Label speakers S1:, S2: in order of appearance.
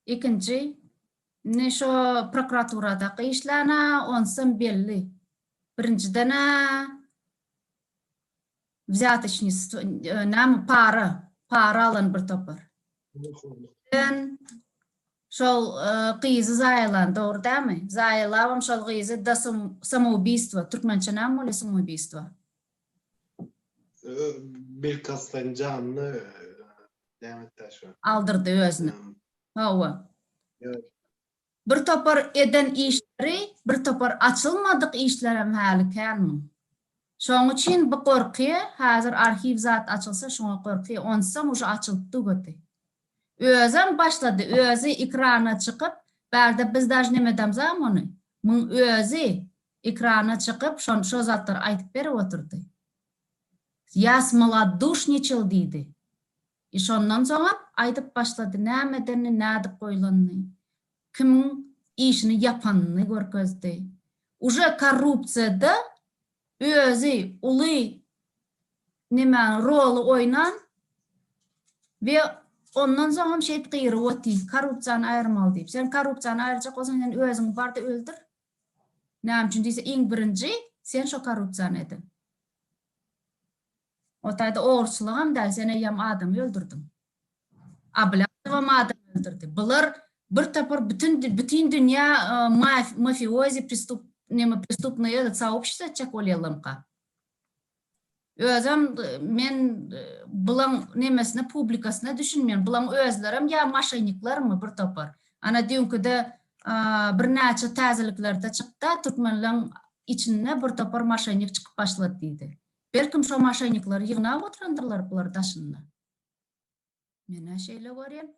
S1: Ikinji, indi şo prokuraturadaky işlän-ä onsam belli. Birinjiden-ä wzýatocnistwo, näme, para, para alan bir topar. Ikinden, şol gyzy zaýalan, dogry dälmi? Zaýalabam şol gyzy do samoubýstwa, türkmençe näme bolýar samoubýstwa?
S2: Belkasdan janly nämetde şu. Aldyrdy özüni.
S1: Hawa.
S2: Bir
S1: topar eden işleri, bir topar açylmadyk işlerem häli kän muň. Şoň üçin bu gorky, häzir arhiw zat açylsa şuňa gorky, onsoň uje açylyp dugurdy. Özem başlady, özi ekrana çykyp, bärde biz daj nemedamzam ony. Muň özi Ekrana çykyp şon şo zatlar aýdyp berip otyrdy. Ýa smoladduşniçil diýdi. I şondan soňam aýdyp başlady nämedenini nädip goýlanyny, kimiň işini ýapanyny görkezdi. Uje korrupsiýada özi uly nemäni roly oýnan we ondan soňam şeýt gyryp oty korrupsiýany aýyrmaly diýip. Sen korrupsiýany aýyrjak bolsaň sen öziňi barda öldür. Näme üçin diýse iň birinji sen şo korrupsiýany ediň. O taýda ogurçylygam däl sen eýýäm adamy öldürdiň. Ablazowam adam öldürdi. Bular bir topar bütün bütün dünýä mafiozi pristup neme pristupnoýa soobşit etjek bolýalamka. Özem men bulaň nemesine publikasyna düşünmeýän. Bulaň özlerem ýa maşeniklermi bir topar. Ana düýnküde bir näçe täzeliklerde çykda türkmenleň içinde bir topar maşenik çykyp başlady diýdi. Belkim şo maşenikleri ýygnap oturandyrlar bular daşynda. Menä şeýle görýän.